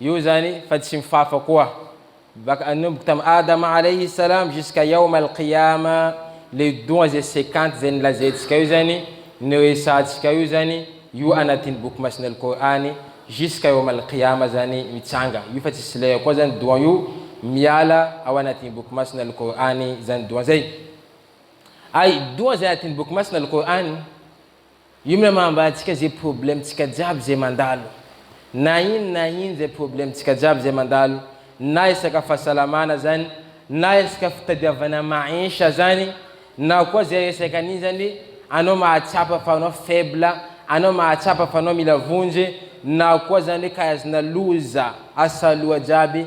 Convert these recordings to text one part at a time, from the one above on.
Io zany fa tsy mifafa koa. Baka nanomboka tam Adama alaihi salam jusqu'à yaum al qiyama le doha ze cinquante ze nolazaintsika io zany no resahantsika io zany io anatin boky masina al Kor'any jusqu'à yaum al qiyama zany mitsanga io fa tsisy lera koa zany doha io miala ao anatin boky masina al Kor'any zany doha zay. Ay doha ze anatin boky masina al Kor'any Io miham ambadika ze problème tsika jiaby ze mandalo na in na in ze problème tsika jiaby ze mandalo na esaka fasalamana zany na esaka fitadiavana maisha zany na koa ze resaka an'iny zany anao mahatsapa fa anao faible anao mahatsapa fa anao mila vonjy na koa zany hoe karazana loza asaloha jiaby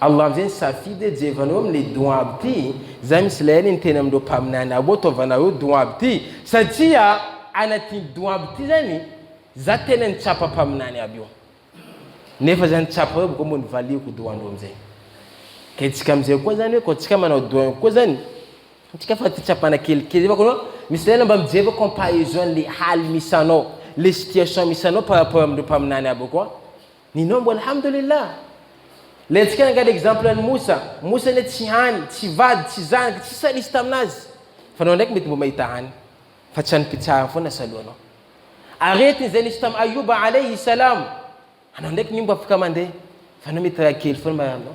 Allah amin'izay nisafidy hoe jevanao amin'ilay doua aby ity, izany misy ilay ainy niteny amin'ireo mpaminany aby hoe ataovanareo doua aby ity, satria anatin'ity doua aby ity izany za tena nitsapa mpaminany aby io, nefa za nitsapa hoe koa moa nivaliako doua ndreo amin'izay, ka isika amin'izay koa izany hoe koa isika manao doua ihany koa izany, isika fa fitsapana kelikely izay fa koa misy lerana mba mijeva comparaison an'ilay hali misy anao, ilay situation misy anao par rapport amin'ireo mpaminany aby koa, Nino mbo alhamdoulilah. Lentika angaha ny exemple an'i Moussa. Moussa anie tsy hany, tsy vady, tsy zanaky, tsy sahy nisy taminazy. Fa anao ndraiky mety mbo mahita hany. Fa tsy anim-pitsarana foana salohanao. Aretina izay nisy tam Ayouba alaihi salam. Anao ndraiky mimbo afaka mandeha. Fa anao mety raha kely foana mararinao.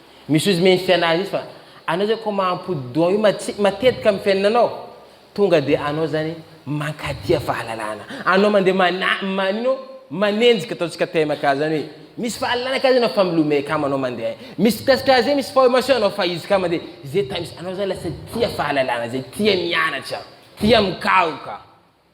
Misy ozy mendry tsy anazy izy fa anao zany ko mampody doha io matetika amin'ny fiainanao tonga dia anao zany mankatia fahalalana. Anao mandeha mana manino manenjika ataontsika TMK zany hoe misy fahalalana ka zay anao fa milomay kamo anao mandeha. Misy mpitasika azy zay misy formation anao fa izy ka mandeha zay tamis anao zany lasa tia fahalalana zay tia mianatra tia mikaroka.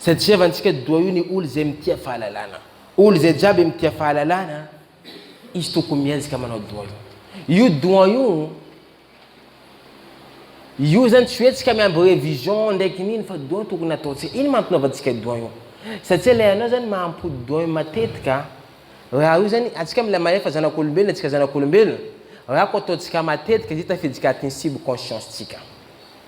Izay tsevantsika doa io ny olo izay mitia fahalalana. Olo izay jiaby mitia fahalalana, izy tokony miezaka manao doa io. Io doa io, io zany tsy hoe tsika miamby revision ndraiky niny fa doa tokony ataontsika. Ino mahatonga antsika doa io? Satsia ilay anao zany mahampody doa io matetika. Raha io zany, antsika mila mahay fa zanak'olombelona tsika zanak'olombelona, raha ko ataontsika matetika dia tafiditsika atin'ny sub conscience-tsika.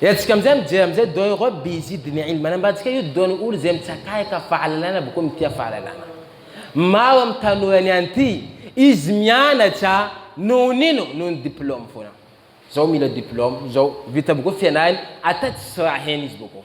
Entsika amizay mijery amizay don ireo bizy diny ilm anambatsika io don olo izay mitsakayka fahalalana boko am tia fahalalana. Maro am tanora ny an ty izy mianatra noho ny ino noho ny diploma fona. Zao mila diploma zao vita boko fianarany ata tsisy raha hena izy boko.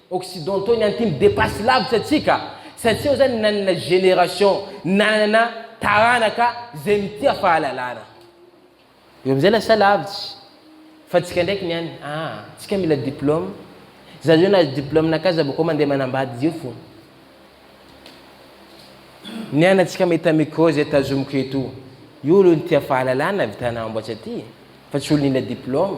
Occidentaux ny antimo depasse lavitra antsika satria eo zany nanana génération nanana taranaka zay mitia fahalalana eo amizay lasa lavitra fa antsika ndraiky ny any aa antsika mila diplôme za zao nahazo diplôme nakahy za bakao mandeha manambady zay fo ny any antsika mahita micro zay tazomiko eto io olo nitia fahalalana vitana amboatsa ty fa tsy olo nila diplôme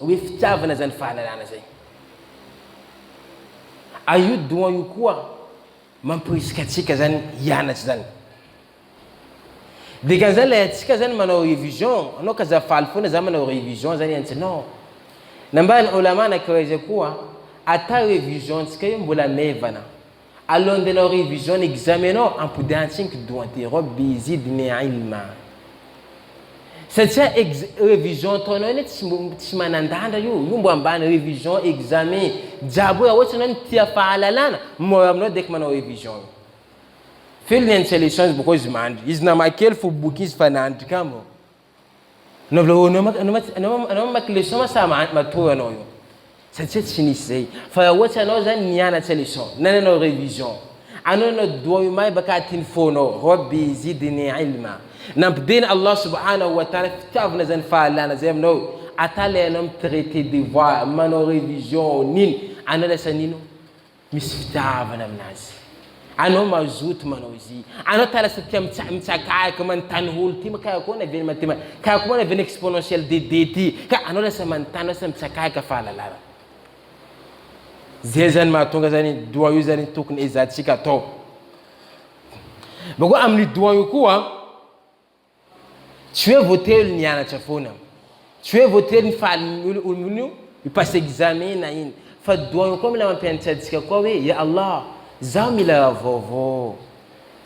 Hoe fitiavana izany fahalalana izay. A io don io koa mampirisika antsika zany hianatra zany. Dikan'izany ilay antsika zany manao révision, anao ka za faly foana za manao révision zany antsika non. Nambaran'ny Olama anankiray izay koa, ata révision-ntsika io mbola maivana, Alohan'ny andehanao révision ny examen nao ampodiantsiny ko doha ty robe de izy de ny ahy lma satsia ex révision ataonao iny tsy mbo tsy manandandra io io mbo ambany révision examen jiaby hoe raha ohatsy anao no tia fahalalana mora aminao dek manao révision io f'io lny antsy leçons boko izy mandry izy nama kely fo boky izy fa nandry kamo Anao anao ma- anao ma- anao ma- anao mamaky leçon ma sa ma- matory anao eo satria tsy nisy zay fa raha ohatra anao zany nianatra leçon na nanao révision anao nanao doua io may baka aty ny fonao rabbi zidni ilma nampidina Allah subhanahu wa ta'ala fitiavana zany fahalana zay aminao ata le anao mi-traiter devoir manao révision nino anao lasa nino Misy fitiavana aminazy. Anao mazoto manao izy. Anao tala sy tia mitsa mitsakayaka manontany holo ty ka akona ve ny mathema ka akona ve ny exponentiel de de ty ka anao lasa manontany lasa mitsakayaka fahalalana. Zay zany mahatonga zany doha io zany tokony ezahantsika atao. Bakeo amin'io doha io koa Tsy hoe voatery ny hianatra foana. Tsy hoe voatery ny faly io io passe examen na iny. Fa doany koa mila mampianatra antsika koa hoe ya Allah zaho mila raha vaovao.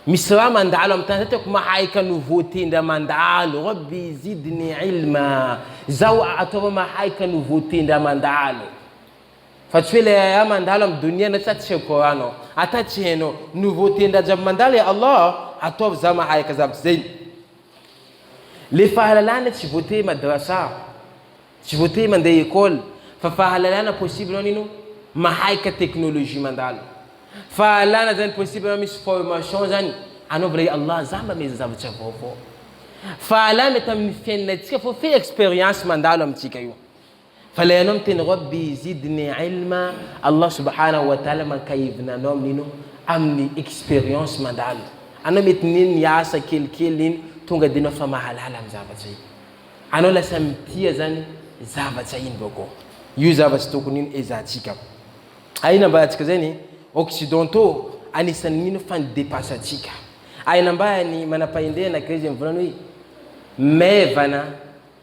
Misy raha mandalo amin'ny tany zay tiako mahay ka no voatendra mandalo. Rabbi zidni ilma. Zaho ataovao mahay ka no voatendra mandalo. Fa tsy hoe lay aya mandalo am donia na tsy atsy seho Coran ao. Ata tsy hainao. Nouveauté ndraha jiaby mandalo e Allah a! Ataovy za mahay ka za aby zegny. Le fahalalana tsy voatery madrasa, tsy voatery mandeha école fa fahalalana possible anao nino mahay ka technologie mandalo. Fahalalana zany possible anao misy formation zany anaovy lay Allah za mba miezaha zavatra vaovao. Fahalalana tam fiainantsika fô fe expérience mandalo amintsika io. Fa ilay anao miteny Rabbi zidni ilma, Allah subhanahu wa ta'ala mankahivina anao amin'ino? Amin'ny expérience mandalo. Anao mety nino ny asa kelikely iny tonga dia enao fa mahalala ny zavatra iny. Anao lasa mitia zany zavatra iny vaoakao. Io zavatra tokony ino ezahantsika. Hay nambarantsika zay ny occidentaux anisan'ny mino fa ni-depasse-ntsika. Hay nambaran'ny manampahendrena greziny voalohany hoe maivana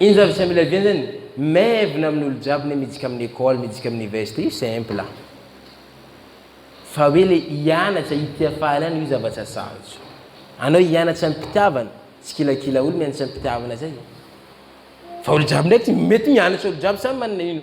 Ino zany visa mila diany zany? Maivina amin olo jiaby ne midika amin école midika amin université io simple a! Fa hoe le hianatra hitia fahalalana io zavatra sarotra. Anao hianatra am pitiavana, tsy kilakila olo mianatra am pitiavana zay e! Fa olo jiaby ndraiky mety mianatra olo jiaby samy manana ino.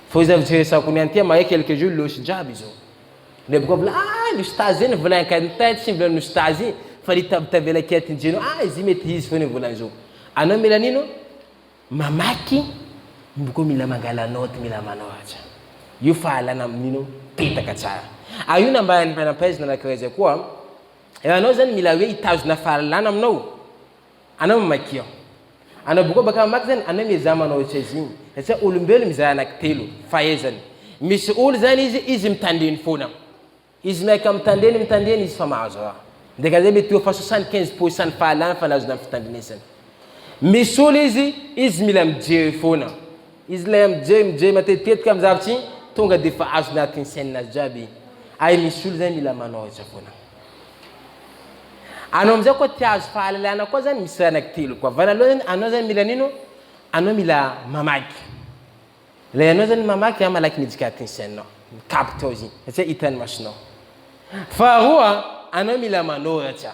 Fô izay firesako ny an'ty mahay quelques jours loss jiaby izao. Le boka mbola ah ny ustaz zay ny volany ka ny tay tsy mbola ny ustaz i fa ny tav tavela kia ty njeno ah izy mety hizy fô ny volany zao. Anao mila nino? Mamaky boka mila mangala note mila manao aza io fahalana amin'ino petaka tsara. Ary io nambaran'ny mpanampaizina anankiray zay koa, raha anao zany mila hoe hitazona fahalalana aminao, Anao mamaky aho. Anao boka baka mamaky zany, anao miezaha manao ohatry azy igny. Satria olombelo mizara anaky telo, fahaizany. Misy olo zany izy, izy mitandreny foana. Izy miaika mitandreny, mitandreny izy fa mahazo raha. Dikan'izay mety eo fa soixante quinze pour cent ny fahalany fa nazony amin'ny fitandrenesany. Misy olo izy, izy mila mijery foana. Izy ilay mijery, mijery matetitetika amin'ny zavatra igny, tonga dia efa azony agnatin'ny saininazy jiaby igny. Ary misy olo zany mila manoratra foana. Anao amizao koa te hahazo fahalalana koa zany misy raha anaky telo koa. Voalohany zany anao zany mila nino? Anao mila mamaky. Ilay anao zany mamaky an malaky mijikaty ny sainao. Micapte ao izy iny satria hitan'ny masonao. Faharoa anao mila manoratra.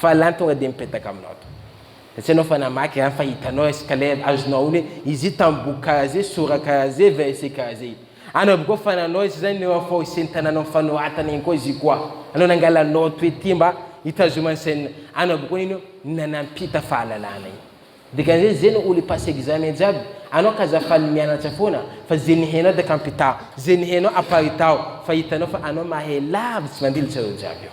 Fa lany tonga dia mipetaka aminao to. Tsy hainao fa namaky izany fa hitanao es kale azonao aolo hoe izy io tamboho karaha izay, sora karaha izay, verset karaha izay. Anao aby koa fa nanao izy izany eo afoaosin'ny tanàna mifanohatana iny koa izy io koa. Anao nangala note hoe ity mba hitazomany sainina. Anao aby koa nino io na nampita fahalalana iny. Dikan'izay izay no olo hipasse examen jiaby. Anao ka aza faly mianatra foana fa izay nihainao dia kampitaho. Izay nihainao aparitaho fa hitanao fa anao mahay lavitsy mandilitra ireo jiaby eo.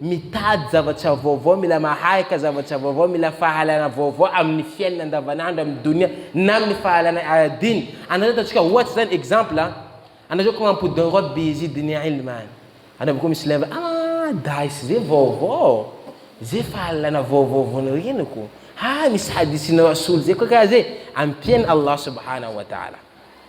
Mitady zavatra vaovao, mila maharaka zavatra vaovao, mila fahalalana vaovao amin'ny fiainana andavanandro, amin'ny donia na amin'ny fahalalana ara-dini. Anareo ataontsika ohatry zany, exemple a, anareo ko mampody ny robe izy donia ilm any, anareo ko misy lève ah days zay vaovao, zay fahalalana vaovao vao noreniko, ah misy hadithin'ny rasoul zay ko karaha zay, ampian'i Allah subhanahu wa ta'ala.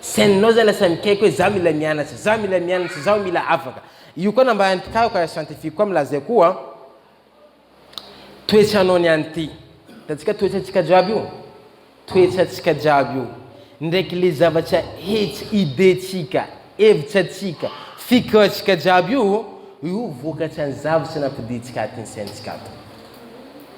Scène nao zay lasa nikaiko hoe za mila mianatra, za mila mianatra, zaho mila afaka. Io koa nambaran'ny mpikaroka siantifika koa milaza io koa, toetranao ny any ty. Hitantsika toetrantsika jiaby io, toetrantsika jiaby io, ndraiky le zavatra hetsy, idée-tsika, hevitsatsika, fikiratsika jiaby io, io vokatran'ny zavatra nampodiantsika atin'ny saintsika ato.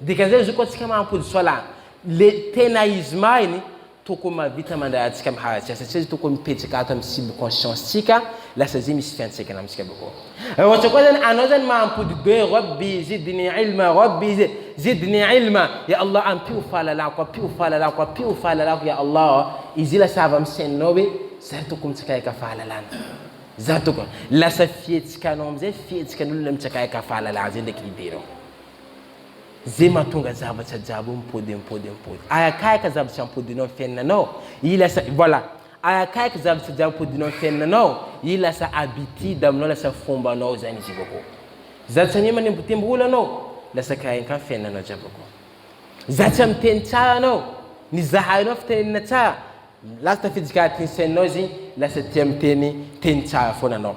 Dikan'izay zoky antsika mampody soala le tena izy mahiny tokony mahavita mandray antsika am haratsika satria izy tokony mipetraka ato am subconscience tsika lasa zay misy fiantraikany amitsika bako ra ohatra koa zany anao zany mampody be rabbi zidni ilma rabbi zidni ilma ya Allah ampio fahalalako ampio fahalalako ampio fahalalako ya Allah izy lasa avy am saininao hoe za tokony mitsakaeka fahalalana za tokony lasa fihetsikanao amizay fihetsikan'olona mitsakaeka fahalalana zay ndraiky idée nao Ze mahatonga zavatra jiaby hoe mipody mipody mipody ay akaiky zavatra ampodinao ny fiainanao i lasa voilà ay akaiky zavatra jiaby ampodinao ny fiainanao i lasa habitude aminao lasa fombanao zany izy io za tsy anie manembotembo olo anao lasa kainka fiainanao jiaby ko za tsy miteny tsara anao ny zahainao fitenenana tsara lasa tafiditra anatin'ny saininao izy lasa tia miteny teny tsara foana anao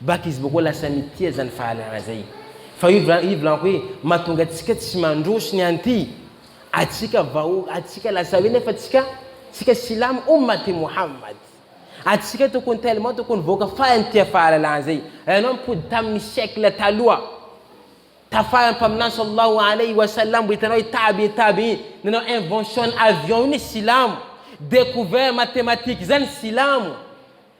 Bac izy boko lasa mitia zany fahalalana zay fa io vla io vlaniko hoe matonga atsika tsy mandroso ny anty atsika vahoaka atsika lasa hoe nefa tsika tsika silamo omaty mohammad atsika tokony tellement tokony vahoaka faly nitia fahalalana zay raha enao mipody taminy siècle taloha tafara mpaminany sallahu aleyhi wa sallam mbo hitanao i tabi tabi nanao invention ny avion io ny silamo decouvert mathématique zany silamo